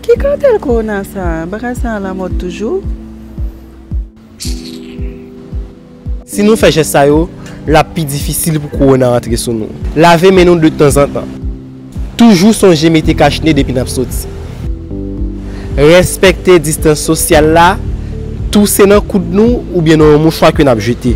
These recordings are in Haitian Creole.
Ki kartel corona sa? Bagay sa a la mode toujou? Si nou fè jès sa yo, l ap pi difisil pou corona antre sou nou. Lave men nou de tanzantan. Toujou sonje mete kach ne depi n ap soti. Respekte distans sosyal la, touse nan koud nou oubyen nan yon mouchwa ke n ap jete.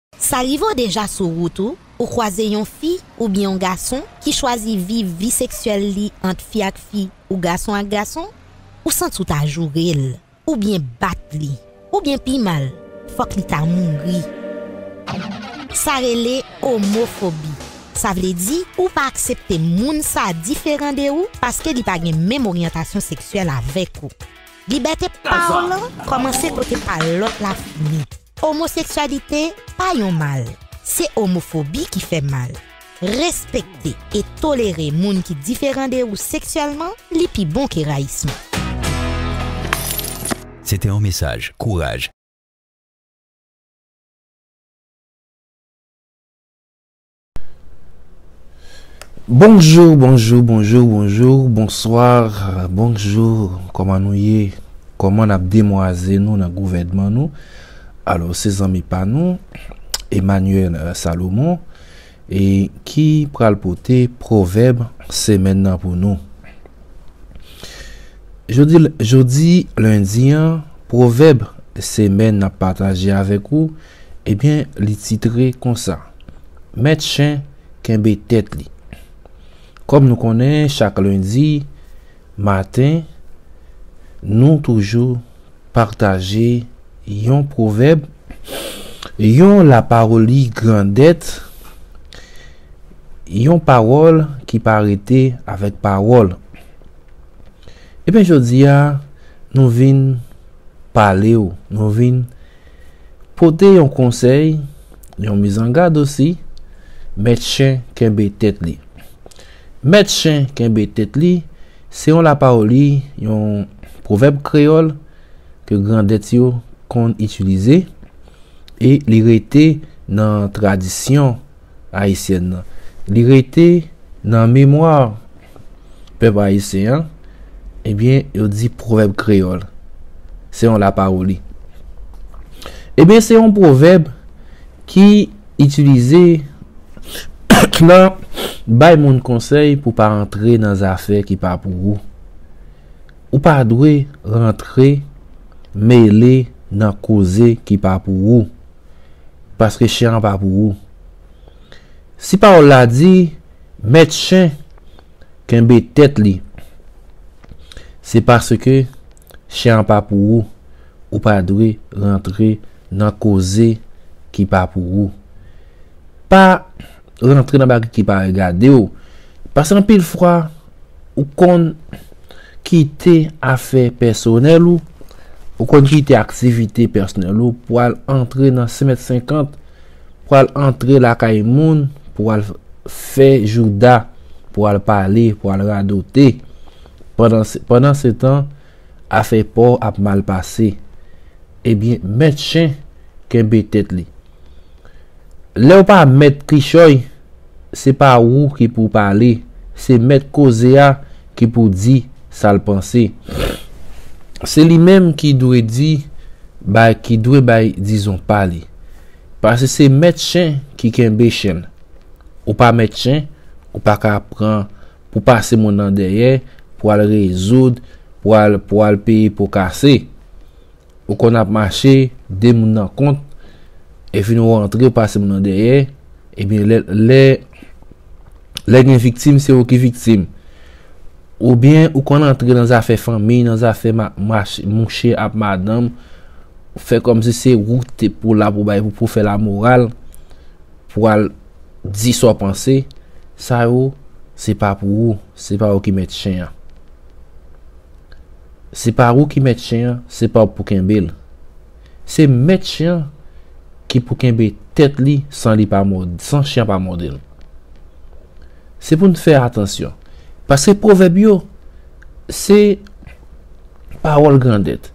Sa rive w deja sou wout ou, ou kwaze yon fi oubyen yon gason ki chwazi viv vi seksyèl li ant fi ak fi ou gason ak gason, ou santi w ta joure l, oubyen bat li, oubyen pi mal, fòk li ta mouri. Sa rele omofobi. Sa vle di ou pa aksepte moun sa diferan de ou paske li pa gen menm oryantasyon seksyèl avèk ou. Libète pawòl lan kòmanse kote pa lòt la fini. Omoseksyalite pa yon mal, se omofobi ki fè mal. Respekte e tolere moun ki diferan de ou seksyèlman li pi bon ke rayisman. Se te yon mesaj kouraj. Bonjour bonjour bonjour bonjour bonsoir bonjour koman nou ye koman nap demwaze nou nan gouvèdman nou alò se zanmi pa nou Emmanuel Salomon e ki pral pote pwovèb semèn nan pou nou jodi lundi an pwovèb semèn nap pataje avèk ou Ebyen li titre konsa. Mèt chen kenbe tèt li. Kòm nou konnen chak lendi maten nou toujou pataje yon pwovèb, yon lapawoli grandèt, yon pawòl ki pa rete avèk pawòl. Ebyen jodi a nou vin pale w, nou vin. Pote yon konsèy, yon mizangad osi, Mèt chen kenbe tèt li. Mèt chen kenbe tèt li, se yon lapawoli, yon pwovèb kreyòl ke grandèt yo konn itilize e li rete nan tradisyon. ayisyèn nan. Li rete nan memwa pèp ayisyen an. Ebyen, yo di pwovèb kreyòl. Se yon lapawoli. Ebyen, se yon pwovèb ki itilize nan bay moun konsèy pou pa antre nan zafè ki pa pou ou. Ou pa dwe rantre, mele nan koze ki pa pou ou. paske chen an pa pou ou. Si pawòl la di, mèt chen kenbe tèt li, se paske chen an pa pou ou, ou pa dwe rantre nan koze ki pa pou ou. Pa rantre nan bagay ki pa regadew paske anpil fwa ou konn kite afè pèsonèl ou ou konn kite aktivite pèsonèl ou pou al antre nan senmèt senkant pou al antre lakay moun pou al fè jouda pou al pale pou al radote pandan setan Afè paw ap mal pase. Ebyen mèt chen kenbe tèt li. Lèw pa mèt kichòy se pa ou ki pou pale se mèt koze a ki pou di sal panse. Se li menm ki dwe di bay ki dwe bay dizon pa li. Pase se mèt chen ki kenbe chen. Ou pa mèt chen ou paka pran pou pase moun nan dèyè, pou al rezoud, pou al pou al peye po kase. Ou konn ap mache, 2 moun nan kont, epi ou antre ou pase moun nan dèyè, ebyen lè lè lè gen viktim se ou ki viktim. Oubyen ou konn antre nan zafè fanmiy, nan zafè ma mach mouche ap madanm, fè kòmsi se ou ki te pou la pou bay pou fè lamoral, pou al Di sa w panse, sa yo se pa pou ou, se pa ou ki mèt chen an. Se pa ou ki mèt chen an, se pa ou pou kenbe l. Se mèt chen an ki pou kenbe tèt li san li pa mò, san chen an pa mòde l. Se pou n fè atansyon, paske pwovèb yo se pawòl grandèt.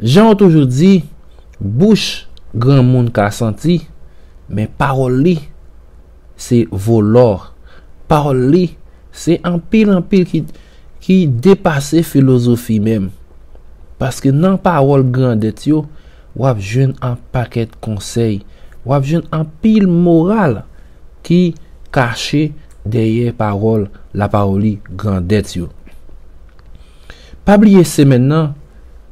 Jan yo toujou di, bouch granmoun ka santi, men pawòl li se vo lò. Pawòl li se anpil anpil ki depase filozofi menm. Paske nan pawòl grandèt yo, w ap jwenn an pakèt konsèy, w ap jwenn anpil moral ki kache dèyè pawòl lapawoli grandèt yo. Pa bliye semèn nan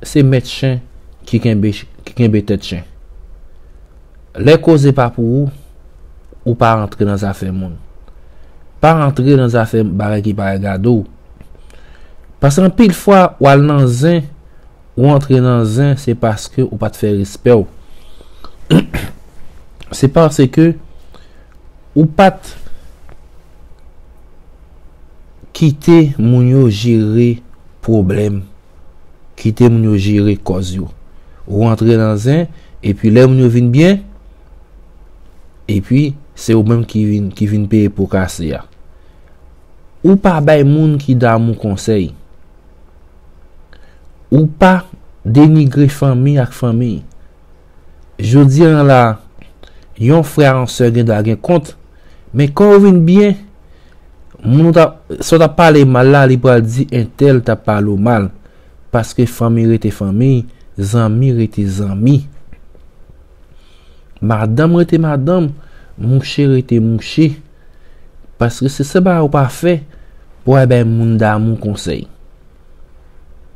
se mèt chen ki kenbe tèt chen. Lè koze pa pou ou, ou pa antre nan zafè moun. Pa antre nan zafè bagay ki pa regade w. Paske anpil fwa w al nan zen, ou antre nan zen se paske ou pa t fè respè w. Se paske ou pa t. Kite moun yo jere pwoblèm, kite moun yo jere kòz yo. Ou antre nan zen, epi lè moun yo vin byen, epi se ou menm ki vin peye po kase a. Ou pa bay moun ki damou konsèy. Ou pa denigre fanmi ak fanmi. Jodi an la, yon frè ak yon sè gendwa gen kont, men kan yo vin byen, moun ou t ap, sa w t ap pale mal la, li pral di entèl t ap pale w mal. Paske fanmi rete fanmi, zanmi rete zanmi. Madanm rete madanm, mouche rete mouche. Paske se sa bagay ou pa fè pou w al bay moun damou konsèy.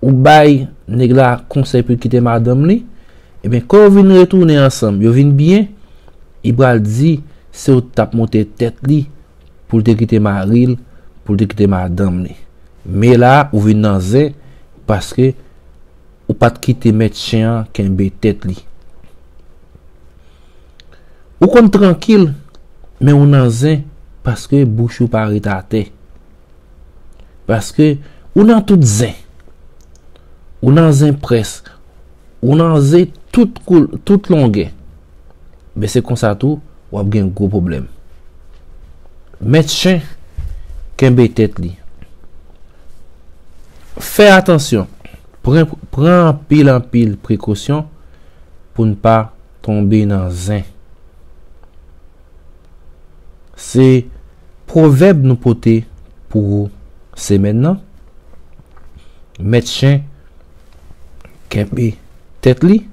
Ou bay nèg la konsèy pou l kite madanm li, ebyen kò yo vin retounen ansanm, yo vin byen, li pral di se ou t ap monte tèt li pou l te kite mari l, pou l te kite madanm li. Men la a, ou vin nan zen paske ou pa t kite mèt chen an kenbe tèt li. Ou konn trankil, men ou nan zen paske bouch ou pa ret atè. Paske ou nan tout zen. Ou nan zen près. Ou nan ze tout longè. Ben se konsa tou w ap gen gwo pwoblèm. Mèt chen kenbe tèt li. Fè atansyon. Pran anpil anpil prekosyon pou n pa tonbe nan zen. Se. Pwovèb nou pote pou ou semèn nan, Mèt chen kenbe tèt li.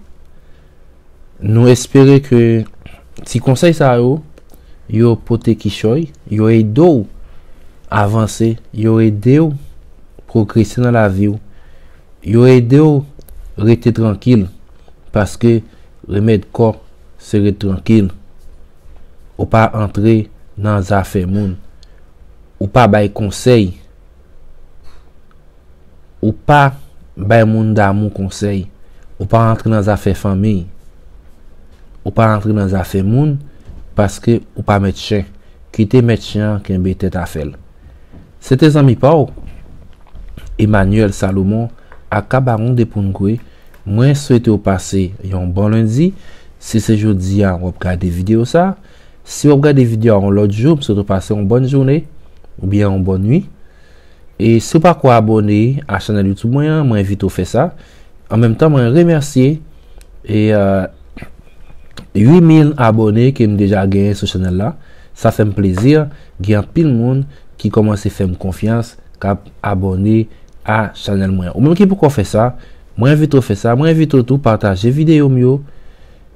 Nou espere ke ti konsèy sa yo, yo pote kichòy, yo ede w avanse, yo ede w pwogrese nan lavi w, yo ede w rete trankil, paske remèd kò se ret trankil. Ou pa antre nan zafè moun. Ou pa bay konsèy. Ou pa bay moun damou konsèy. Ou pa antre nan zafè fanmiy. Ou pa antre nan zafè moun paske ou pa mèt chen. Kite mèt chen an kenbe tèt afè l. Se te zanmi pa w? Emmanuel Salomon aka Baron de Poungwe mwen swete w pase yon bon lendi, si se jodi a w ap gade video sa, si w ap gade video a yon lòt jou m swete w pase yon bòn joune oubyen yon bòn nwi e si w pako abòne a chanèl youtube mwen an mwen envite w fè sa an menm tan mwen remèsye E 8000 abone kem deja genyen sou chanel la Sa fem plezi gen anpil moun ki komanse fem konfyans kap abone a chanel mwen Ou menm ki poko fe sa Mwen envite w fe sa Mwen envite w tou pataje video m yo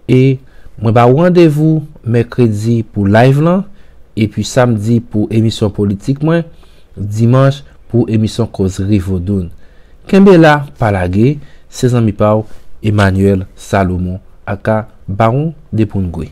E mwen ba ou randevou mèkredi pou live lan Epi samdi pou emisyon politik mwen Dimanche pou emisyon kozri vodoun. Kenbe la pa lage, se zanmi pa w Emmanuel Salomon aka Baron de Poungwe.